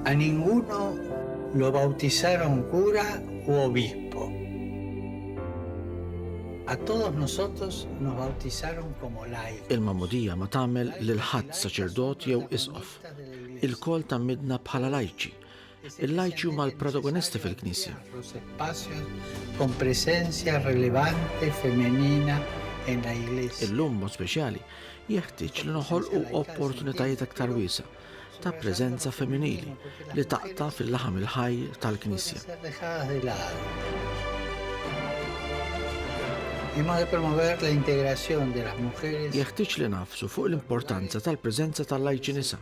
A ninguno lo bautisaron cura u obispo. A todos nosotros nos bautisaron como laicos. Il-magħmudija ma tagħmel lil ħadd saċerdot jew isqof. Ilkoll tgħammidna bħala lajċi. Il-lajċi huma l-protagonisti fil-Knisja. Illum mod speċjali jeħtieġ li noħolqu opportunitajiet aktar wiesa ta' preżenza femminili li taqta' fil-laħam il-ħaj tal-Knisja. Jeħtieġ li nafsu fuq l-importanza tal-preżenza tal-lajċi nisa